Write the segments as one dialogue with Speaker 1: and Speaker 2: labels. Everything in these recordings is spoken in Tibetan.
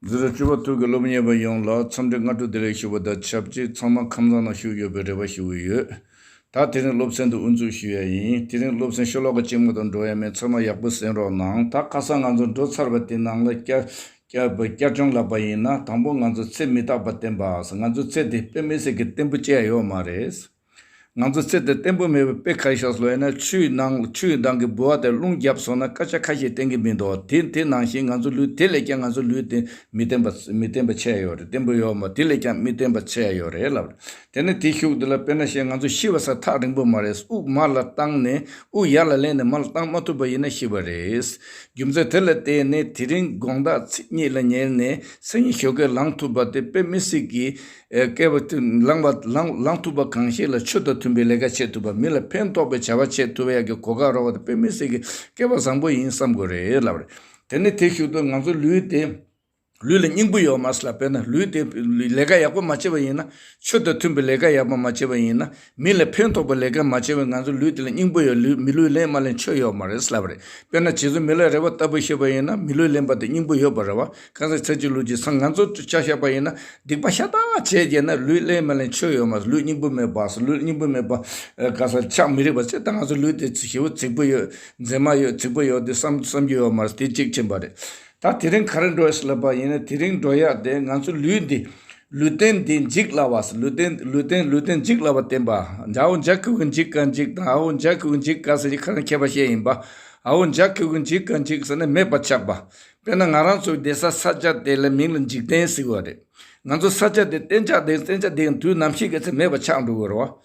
Speaker 1: འཛིན་རིམ་བཅུ་པ་ཐུགས་ཀྱི་སློབ་གཉེར་བ་ཡོངས་ལ་འཚམས་འདྲི་སྔ་དྲོ་བདེ་ལེགས་ཞུ་བ་དང་ཆབས་ཅིག་ཚང་མ་ཁམས་བཟང་ན་བཞུགས་ཡོད་པའི་རེ་བ་ཞུ་གི་ཡོད། ད་དེ་རིང་སློབ་ཚན་དུ་དབུ་འཛུགས་ཞུ་ཡ་ཡིན་དེ་རིང་སློབ་ཚན་ཤོ་ལོ་ཀ་གཅིག་མ་དང་འགྲོ་ཡ་མེད་ཚང་མ་ཡག་པོ་གཟན་རོགས་གནང། ད་ཁ་སང་ང་ཚོ་འགྲོ་ཚར་བ་དེ་ནང་ལ་བསྐྱར་སྦྱོང་ལབ་པ་ཡིན་ན་དང་པོ་ང་ཚོ་ཚེ་མི་རྟག་པ་བསྟན་པ་ང་ཚོ་ཚེ་དེ་དཔེ་མི་སྲིད་ཀྱི་བརྟན་པོ་བཅད་ཡོད་མ་རེད། ང་ཚོ་ཚེ་འདིར་བརྟན་པོ་མེད་པའི་དཔེ་ཁ་ཤས་སུ་ལྷན་ན་ཆུའི་ནང་ལ་ཆུའི་མདངས་ཀྱིས་འབུལ་བ་དེར་རླུང་རྒྱབ་སོང་ན་སྐད་ཆ་ཁ་ཤས་བསྟན་གྱི་མི་འདུག་དེ་དེ་ནང་བཞིན་ང་ཚོ་ལུས་དེ་ལས་ཀྱང་ང་ཚོ་ལུས་དེ་མི་བརྟན་པ་མི་བརྟན་པ་ཆད་ཡོད་རེད་བརྟན་པོ་ཡོད་མོད་དེ་ལས་ཀྱང་མི་བརྟན་པ་ཆད་ཡོད་རེད་ལབ་རེད་དེ་ནི་དེ་ཤུགས་འདི་ལ་དཔེར་ན་བཤད་ང་ཚོ་ཤི་བ་སྲ་ཐག་རིང་པོ་མ་རེད་དབུགས་མར་ལ་བཏང་ནས་དབུགས་ཡར་ལ་བསླེབས་ནས་མར་ལ་བཏང་མ་ཐུབ་པ་ཡིན་ན་ཤི་བ་རེད། རྒྱུ་མཚན་དེ་ལ་བརྟེན་ནས་དེ་རིང་དགོངས་དག་ཚིག་གཉིས་ལ་ཉེར་ནས་སེམས་ཉིད་ཞོགས་ཀྱིས་ལངས་ཐུབ་པ་དེ་དཔེ་མི་སྲིད་ཀྱི། བསྐལ་པ་དུས་བླངས་ཐུབ་པ་གང་ཞིག་ལ་ཆོས་དང་མཐུན་པའི་ལས་ཀ་བྱེད་ཐུབ་པ་མི་ལ་ཕན་ཐོགས་པའི་བྱ་བ་བྱེད་ཐུབ་པ་ཡག་གི་གོ་སྐབས་རག་པ་དེ་དཔེ་མི་སྲིད་ཀྱི་བསྐལ་པ་བཟང་པོ་ཡིན་བསམ་དགོས་རེད་ལབ་རེད། དེ་ནི་དེ་ཞུ་དོན་ང་ཚོ་ལུས་དེ་ལུས་ལ་སྙིང་པོ་ཡོད་མ་སྲིད་ལ་དཔེར་ན་ལུས་དེ་ལས་ཀ་ཡག་པོ་མ་བྱེད་པ་ཡིན་ན་ཆོས་དང་མཐུན་པའི་ལས་ཀ་ཡག་པོ་མ་བྱེད་པ་ཡིན་ན་མི་ལ་ཕན་ཐོགས་པའི་ལས་ཀ་མ་བྱས་པའི་ང་ཚོའི་ལུས་དེ་ལ་སྙིང་པོ་ཡོད་ལུས་མི་ལུས་ལེན་མ་ལེན་ཆོས་ཡོད་མ་རེད་ལབ་རེད་དཔེར་ན་བྱིས་སུ་མི་ལ་རེ་བ་ལྟ་བུ་ཤེས་པ་ཡིན་ན་མི་ལུས་ལེན་པ་དེ་སྙིང་པོ་ཡོད་པ་རེད་བ་གང་ཟག་ཚེ་གཅིག་ལུས་གཅིག་སང་ང་ཚོ་ལྕགས་བཞག་པ་ཡིན་ན་སྡིག་པ་ཤ་སྟག་བྱས་རྒྱལ་ན་ལུས་ལེན་མ་ལེན་ཆོས་ཡོད་མ་རེད་ལུས་སྙིང་པོ་མེད་པའ་ལུས་སྙིང་པོ་མེད་པ་གང་ཟག་ཆགས་མི་རིགས་པ་ཚེ་ད་ང་ཚོ་ལུས་དེ་བྱིས་པོ་རྫིག་པོ་ཡོད་མཛེས་མ་ཡོད་རྫིག་པོ་ཡོད་དེ་བསམ་བསམ་རྒྱུ་ཡོད་མ་རེད་དེ་གཅིག་མཁྱེན་པ་རེད་ད་དེ་རིང་ག་རེ་འགྲོ་ཡས་ལབ་པ་ཡིན་ན་དེ་རིང་འགྲོ་ཡས་དེ་ང་ཚོ་ལུས་འདི། ལུས་རྟེན་འདི་འཇིག་སླ་བ། ལུས་རྟེན་ལུས་རྟེན་ལུས་རྟེན་འཇིག་སླ་བ་བསྟན་པ། འཇའོ་འཇའ་ཁུ་གུ་འཇིག་ག་འཇིག་དང་ཨའོ་འཇའ་ཁུ་གུ་འཇིག་ག་ཟེར་གྱི་ཁ་ན་ཁྱད་པ་ཤེས་ཡིན་པ། ཨའོ་འཇའ་ཁུ་གུ་འཇིག་ག་འཇིག་ཟེར་ན་མེད་པར་ཆགས་པ། དཔེར་ན་ང་རང་ཚོའི་སྡེ་ས་ས་སྐྱ་དེ་ལ་མིང་ལ་འཇིག་རྟེན་ཟེར་གི་བ་རེད། ང་ཚོ་ས་སྐྱ་དེ་གཏན་ཆགས་དེ་གཏན་ཆགས་དེ་ཡང་དུས་ནམ་ཞིག་གི་ཚེ་མེད་པར་ཆགས་འགྲོ་གི་རེད་བ།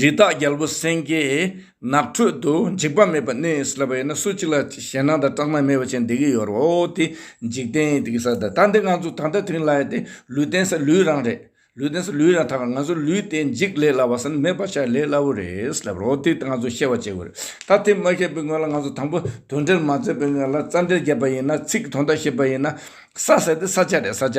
Speaker 1: རི་དྭགས་རྒྱལ་པོ་སེང་གེ་ནགས་ཁྲོད་དུ་འཇིགས་པ་མེད་པར་གནས་ཡིན་ཟེར་བ་ཡིན་ན་སུ་གཅིག་ལ་ཞེད་སྣང་དང་སྐྲག་སྣང་མེད་པ་ཅན་འདི་གི་ཡོད་རེད་འོ་དེ་འཇིག་རྟེན་ཡིན་དེ་གི་ས་དང་ད་འདི་ང་ཚོ་ད་ལྟ་དེང་ལ་ཡོད་དེ་ལུས་རྟེན་ས་ལུས་རང་རེད་ལུས་རྟེན་ས་ལུས་རང་ཐག་ང་ཚོ་ལུས་དེ་འཇིག་ལས་སླ་བ་ས་ནི་མེད་པར་བྱ་ལས་སླ་བོ་རེད་ཟེར་བ་རེད་འོ་དེ་ང་ཚོ་ཤེས་བ་བྱེད་དགོས་རེད་ད་དེ་མ་ཤེས་པའི་སྔོན་ལ་ང་ཚོ་དང་པོ་དོན་འགྲེལ་མ་མཛད་པའི་སྔོན་ལ་རྩ་འགྲེལ་བརྒྱབ་པ་ཡིན་ན་ཚིག་གི་དོན་དག་ཤེས་པ་ཡིན་ན་ས་ཟེར་དེ་ས་ཆ་རེད་ས་ཆ་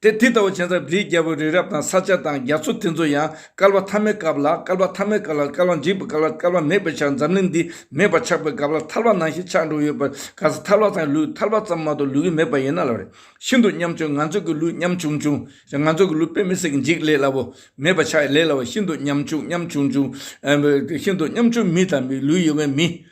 Speaker 1: དེ་དེ་ལྟ་བུ་བྱས་ཙང་བིའི་རྒྱལ་པོ་རི་རབ་དང་ས་ཆ་དང་རྒྱ་མཚོ་དེ་ཚོ་ཡང་བསྐལ་པ་ཐ་མའི་སྐབས་ལ་བསྐལ་པ་ཐ་མའི་སྐབས་ལ་བསྐལ་པ་འཇིག་པའི་སྐབས་ལ་བསྐལ་པ་མེད་པའི་ཆར་འཛམ་གླིང་འདི་མེད་པར་ཆགས་པའི་སྐབས་ལ་ཐར་པ་ནང་བཞིན་ཆགས་འགྲོ་ཡོད་པར་ག་ས་ཐར་པ་དང་ལུས་ཐར་པ་ཙམ་མ་གཏོགས་ལུས་ཀྱི་མེད་པ་ཡིན་ན་ལབ་རེད་ཤིན་ཏུ་སྙམ་བྱུང་ང་ཚོས་ཀྱི་ལུས་སྙམ་བྱུང་བྱུང་ཞེས་ང་ཚོས་ཀྱི་ལུས་དཔེ་མི་སྲིད་ཀྱི་འཇིག་ལས་སླ་པོ་མེད་པར་ཆགས་ལས་སླ་བ་ཤིན་ཏུ་སྙམ་བྱུང་སྙམ་བྱུང་བྱུང་ཤིན་ཏུ་སྙམ་བྱུང་མི་དང་མི་ལུས་ཡོད་མཁན་མི།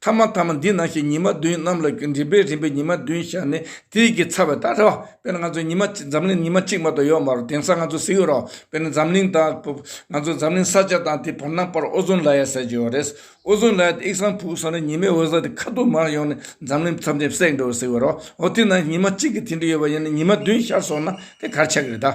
Speaker 1: ཐ་མ་ཐ་མ་འདི་ནང་བཞིན་ཉི་མ་བདུན་གནམ་ལ་རིམ་པས་རིམ་པས་ཉི་མ་བདུན་བཞག་ནས་དུས་ཀྱི་ཚ་བའི་རྟགས་འདྲ། དཔེར་ན་ང་ཚོ་ཉི་མ་གཅིག་འཛམ་གླིང་ཉི་མ་གཅིག་མ་གཏོགས་ཡོད་མ་རུང་དེང་སང་ང་ཚོ་གཟིགས་ཡོད་རོགས་དཔེར་ན་འཛམ་གླིང་དང། ང་ཚོ་འཛམ་གླིང་ས་ཆ་དང་དེའི་བར་སྣང་བར་ཨོ་ཟོན་ལ་ཡ་ཟེར་གྱི་ཡོད་རེད། ཨོ་ཟོན་ལ་ཡ་དེ་དབྱིག་ཟངས་ཕུག་སོགས་ནས་ཉི་མའི་འོད་ཟེར་དེ་ཁ་ཐུག་མར་ཡོང་ནས་འཛམ་གླིང་མཚམས་ཆེན་བསྲེག་འགྲོ་བས་གཟིགས་ཡོད་རོགས་འོ་དེ་ནང་བཞིན་ཉི་མ་གཅིག་གི་དེ་འདྲ་ཡོད་པ་ཡིན་ན་ཉི་མ་བདུན་ཤར་སོང་ན་དེ་གར་ཆགས་ཀྱི་རེད་ད།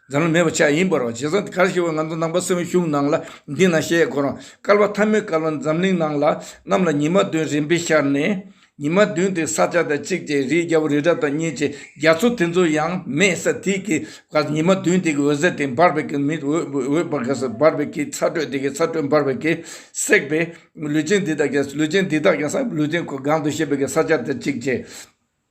Speaker 1: འཛམ་གླིང་མེད་པ་ཆགས་ཡིན་པར་རོ། བྱས་ཙང་གར་ཞེས་པ་ང་ཚོ་ནང་པ་སེམས་གཞུང་ནང་ལ་འདི་ན་ཞེས་གོ་རང་སྐལ་བ་ཐ་མའི་སྐལ་བ་འཛམ་གླིང་ནང་ལ་རྣམས་ལ་ཉི་མ་བདུན་རིམ་པས་ཤར་ནས། ཉི་མ་བདུན་དེ་ས་ཆ་དང་གཅིག་ཅེས་རིའི་རྒྱལ་པོ་རི་བྲག་དང་གཉིས་ཅེས་རྒྱ་མཚོ་དེ་ཚོ་ཡང་མེད་ས་དེ་གའི་བར་ཉི་མ་བདུན་དེ་གའི་འོད་ཟེར་དེ་འབར་བས་གའི་མི་འོད་འབར་གས་འབར་བས་གའི་ཚ་དྲོད་དེ་གའི་ཚ་དྲོད་འབར་བས་གའི་བསྲེགས་པས་ལུས་ཅན་འདི་དག་ཀྱང་ལུས་ཅན་འདི་དག་ཀྱང་ས་ལུས་ཅན་གང་དུ་ཤེས་པས་གའི་ས་ཆ་དང་གཅིག་ཅེས།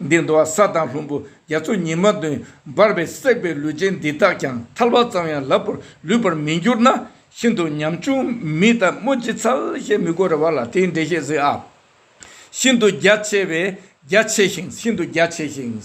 Speaker 1: འདིར་འདུ་བ་ས་དང་ལྷུན་པོ་རྒྱ་མཚོ་ཉི་མ་བདུན་འབར་བས་བསྲེགས་པའི་ལུས་ཅན་འདི་དག་ཀྱང་ཐལ་བ་ཙམ་ཡང་ལབ་པར་ལུས་པར་མི་འགྱུར་ན་ཤིན་ཏུ་ཉམ་ཆུང་མི་དང་སྨོས་ཅི་ཚར་ཞེས་མི་གོ་རེ་བ་ལ་དེའི་འགྲེལ་བཤད་གཟིགས་ཨ། ཤིན་ཏུ་རྒྱ་ཆེ་བས་རྒྱ་ཆེ་ཞིང་ཤིན་ཏུ་རྒྱ་ཆེ་ཞིང་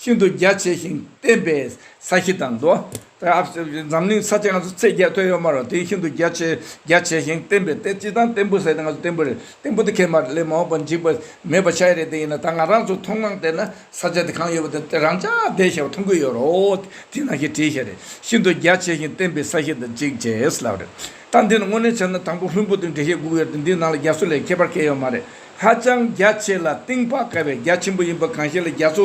Speaker 1: ཤིན་ཏུ་རྒྱ་ཆེ་ཞིང་བརྟན་པས་ས་གཞི་དང་འདུ་བ། འཛམ་གླིང་ས་ཆ་ང་ཚོ་ཚེ་བརྒྱད་ཐོས་ཡོད་མ་རེད་དེ་ཤིན་ཏུ་རྒྱ་ཆེ་རྒྱ་ཆེ་ཞིང་བརྟན་པའི་གཏེར་སྤྱི་དང་བརྟན་པོ་ཟེར་ཏེ་ང་ཚོ་བརྟན་པོ་རེད་བརྟན་པོ་དེ་ཁས་མ་རེད་སླད་མ་འོངས་པར་འཇིག་པ་མེད་པ་ཤའི་རེད་དེ་ཡིན་ན་ད་ང་རང་ཚོ་མཐོང་སྣང་བལྟས་ན་ས་ཆ་དེ་གང་ཡོད་པ་དེ་དེ་རང་ཅག་བདེ་གཤེགས་པ་མཐོང་གི་ཡོད་རོགས་དེས་ན་ཞེས་བྲིས་ཤ་རེད་ཤིན་ཏུ་རྒྱ་ཆེ་ཞིང་བརྟན་པའི་ས་ཞིག་དང་གཅིག་རྗེས་ལབ་རེད་ད་འདི་ནི་དངོས་གནས་བྱས་ན་དང་པོ་ལྷུན་པོ་དང་འབྲེལ་བཤད་དགོས་ཀྱི་ཡོད་དེ་འདིའི་ནང་ལ་རྒྱ་མཚོ་ལས་ཁྱད་པར་སྐད་ཡོད་མ་རེད་ཧ་ཅང་རྒྱ་ཆེ་ལ་གཏིང་དཔག་དཀའ་བའི་རྒྱ་ཆེན་པོ་ཡིན་པ་གང་ཤེས་ལ་རྒྱ་མཚོ་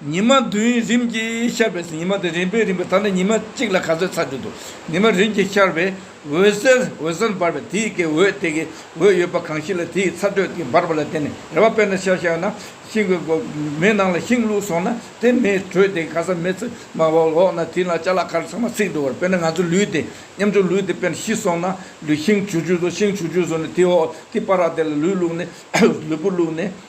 Speaker 1: ཉི་མ་བདུན་རིམ་གྱིས་ཤར་བས་ཉི་མ་དེ་རིམ་པས་རིམ་པས་དག་ནས་ཉི་མ་གཅིག་ལ་ག་ཚོད་ཚར་གྱུར་ཏོ། ཉི་མ་རིམ་གྱིས་ཤར་བས་འོད་ཟེར་འོད་ཟེར་འབར་བས་དེའི་གའི་འོད་དེ་གའི་འོད་ཡོད་པ་གང་ཞིག་ལ་དེའི་ཚ་དྲོད་ཀྱིས་འབར་བ་ལ་བརྟེན་ནས་རེ་བ་དཔེར་ན་ཤ་བཞག་ན་ཤིང་གི་མེ་ནང་ལ་ཤིང་བླུགས་སོང་ན་དེ་མེའི་དྲོད་དེ་ག་སར་མེ་ཚེར་མ་བབས་འོག་ན་དེའི་ནང་ལྕགས་ལ་ཁར་ཚང་མ་ཚིག་འགྲོ་བར་དཔེར་ན་ང་ཚོའི་ལུས་དེ་མཉམ་ཆུང་ལུས་དེ་དཔེར་ན་ཤི་སོང་ན་ལུས་ཤིང་བྱུགས་བྱུགས་སོང་ཤིང་བྱུགས་བྱུགས་སོང་ནས་དེའི་འོག་གི་པ་ར་དེ་ལ་ལུས་བླུགས་ནས་ལུས་པོ་བླུགས་ནས།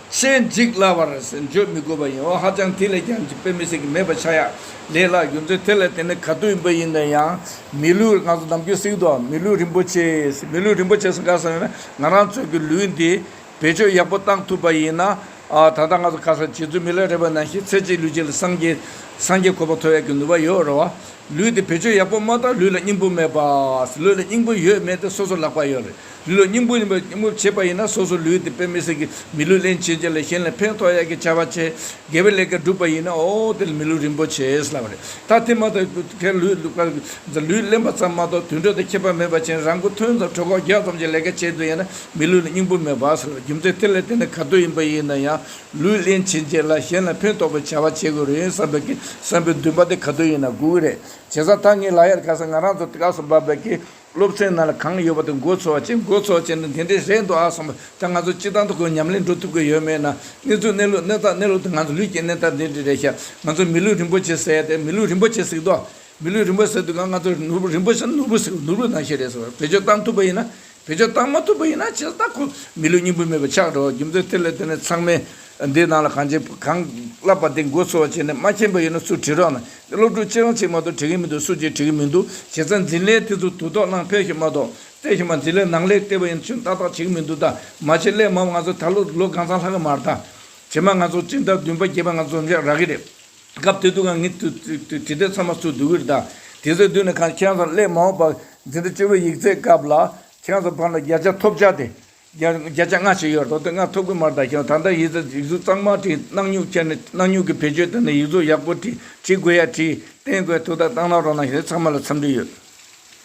Speaker 1: ཤེས་འཇིག་སླ་བར་བརྗོད་མི་དགོས་པ་ཡིན་འོ་ཧ་ཅང་དེ་ལས་ཀྱང་འཇིག་པའི་མི་སྲིད་ཀྱི་མེད་པ་ཆ་ཡ་ལེ་ལགས་རྒྱུ་མཚན་དེ་ལ་དེ་ནི་ག་དུས་འབུད་ཡིན་ན་ཡང་མི་ལུས་ང་ཚོ་ནམ་རྒྱུན་གསེང་དུའང་མི་ལུས་རིན་པོ་ཆེས་མི་ལུས་རིན་པོ་ཆེ་ཟེར་ག་ས་ཡོད་ན་ང་རང་ཚོས་ཀྱི་ལུས་འདི་བེད་སྤྱོད་ཡག་པོ་བཏང་ཐུབ་པ་ཡིན་ན་ད་ལྟ་ང་ཚོ་ག་ས་བྱེད་ཚུལ་མི་ལ་རེ་བ་ན་ཤི་ཚེ་གཅིག་ལུས་གཅིག་ལ་སངས་རྒྱས་སངས་རྒྱས་ཁོ་པ་ཐོབ་ཡག་གི་ནུས་པ་ཡོད་རེད་བ། ལུས་འདི་བེད་སྤྱོད་ཡག་པོ་མ་བཏང་ལུས་ལ་སྙིང་པོ་མེད་པ། ལུས་ལ་སྙིང་པོ་ཡོད་མེད་དེ་སོ་སོ་ལག་པ་ཡོད་རེད། ལུས་ལ་སྙིང་པོ་ཡིན་པའི་སྙིང་པོ་བྱེད་པ་ཡིན་ན་སོ་སོའི་ལུས་དེ་དཔེ་མི་སྲིད་ཀྱི་མི་ལུས་ལེན་བྱེད་ཅིག་ལ་གཞན་ལ་ཕན་ཐོགས་ཡག་གི་བྱ་བ་བྱེད་དགེ་བའི་ལས་ཀ་སྒྲུབ་པ་ཡིན་ན་ཨོ་དེ་ལ་མི་ལུས་རིན་པོ་ཆེ་ལབ་པ་རེད་ད་དེ་མ་ཐག་གུ་གེར་ལུས་ལུས་ཀར་ལུས་གླེན་པ་ཙམ་མ་གཏོགས་དུད་འགྲོ་དང་ཁྱད་པར་མེད་པ་ཅན་རང་གི་ཐོན་ཙམ་གྲོད་ཁོག་རྒྱག་ཙམ་གྱི་ལས་ཀ་བྱེད་འདོད་ཡིན་ན་མི་ལུས་ལ་སྙིང་པོ་མེད་པ་ལབ་རྒྱུ་མཚན་དེ་ལས་དེ་ནི་ག་དུས་ཡིན་པ་ཡིན་ན་ཡང་ལུས་ལེན་བྱེད་ཅིག་ལ་གཞན་ལ་ཕན་ཐོགས་པའི་བྱ་བ་བྱེད་དགོས་རེད་བསམ་པའི་གི་བསམ་པའི་འདུན་པ་དེ་ག་དུས་ཡིན་ན་དགོས་ཀྱི་རེད་བྱས་ཙང་ད་ངའི་ལག་ཡར་ག་ས་ང་རང་ཚོ་སྐབས་སུ་བབས་པའི་གི་སློབ་ཚན་ནང་ལ་གང་ཡོད་པ་དེ་འགོ་ཚུགས་བ་བྱེད་འགོ་ཚུགས་བྱས་ན་དེ་འདྲའི་རེད་འདུག་ཨ་གསུངས་པ་ད་ང་ཚོ་སྤྱི་བཏང་དུ་ཁོས་ཉམས་ལེན་འགྲོ་ཐུབ་ཀྱི་ཡོད་མེད་ན་གནས་ཚུལ་གནས་ལུགས་གནས་སྟངས་གནས་ལུགས་དེ་ང་ཚོ་ལུས་ཀྱི་གནས་སྟངས་འདི་འདྲའི་རེད་ཤག་ང་ཚོ་མི་ལུས་རིན་པོ་ཆེ་ཟེར་ཏེ་མི་ལུས་རིན་པོ་ཆེ་ཟིག་དོ། མི་ལུས་རིན་པོ་ཟེར་དུས་ང་ང་ཚོ་ནོར་བུ་རིན་པོ་ཆེ་ནོར་བུ་ཟེར་བ་ནོར་བུ་ནང་བཞིན་རེད་ཟེར་བ་བེད་སྤྱོད་བཏང་ཐུབ་པ་ཡིན་ན་བེད་སྤྱོད་བཏང་མ་ཐུབ་པ་ཡིན་ན་ཇི་ལྟར་ཁོ་མི་ལུས་སྙིང་པོ་མེད་པ་ཆགས་འགྲོ་བ་རྒྱུ་མཚན་དེ་ལས་དེ་ནས་ཚང་མས། འདི་རྣམས་ལ་གང་བྱེད་གང་བསླབ་པ་དེ་མགོ་ཚོས་བྱས་ནས་མ་མཁྱེན་པ་ཡིན་ན་སུས་དྲིས་རོགས་གནང། དེ་སློབ་ཕྲུག་ཁྱེད་རང་གཅིག་མ་གཏོགས་དྲིས་ཀྱི་མི་འདུག་སུ་གཅིག་དྲིས་ཀྱི་མི་འདུག་བྱས་ཙང་འཛིན་ལས་དེ་ཚོ་དུ་དོགས་གནང་ཕེབས་ཤིག་མ་གཏོགས་བཙལ་ཤིག་མ་འཛིན་ལས་ནང་ལས་ལྟེ་བ་ཡིན་ཚུལ་ཏག་ཏག་བྱེད་ཀྱི་མི་འདུག་ད་མ་བྱེད་སླད་མ་འོངས་ང་ཚོ་ད་ལོ་ལོ་གང་ཚང་ལྷག་གི་མ་རེད་ད་བྱེད་མ་ང་ཚོ་སྤྱི་ཟླ་བདུན་པ་བརྒྱད་པ་ང་ཚོ་འཛོམས་ཤག་རག་གི་རེད། སྐབས་དེ་དུས་ང་ངི་དུས་དུས་དེ་ཚང་མ་སུ་འདུག་གི་རེད་ད་དེ་ཚོའི་མདུན་ནས་གང་མཁྱེན་ཚང་སླད་མ་འོངས་པ་འཛིན་ཟླ་བཅུ་བའི་ཡིག་རྩལ་སྐབས་ལ་མཁྱེན་ཚང་ཕར་ལ་བརྒྱ་ཆ་ཐོབ་བྱ་དེ་བརྒྱ་ཆ་ལྔ་ཞིག་ཡོད་རོགས་དེ་སྔ་ཐོབ་གི་མར་ད་ཤོང་ད་ལྟ་ཡིད་ཚ་ཡིག་གཟུགས་གཙང་མ་བྲིས་སྣག་སྨྱུག་ཁྱེར་ནས་སྣག་སྨྱུག་གི་བེད་སྤྱོད་བཏང་ནས་ཡིག་གཟུགས་ཡག་པོ་བྲིས་བྲིས་དགོས་ཡ་བྲིས་བསྟན་དགོས་ཐུགས་ད་བཏང་ན་རོགས་ན་ཞེས་ཚང་མ་ལ་འཚམས་འདྲི་ཡོད།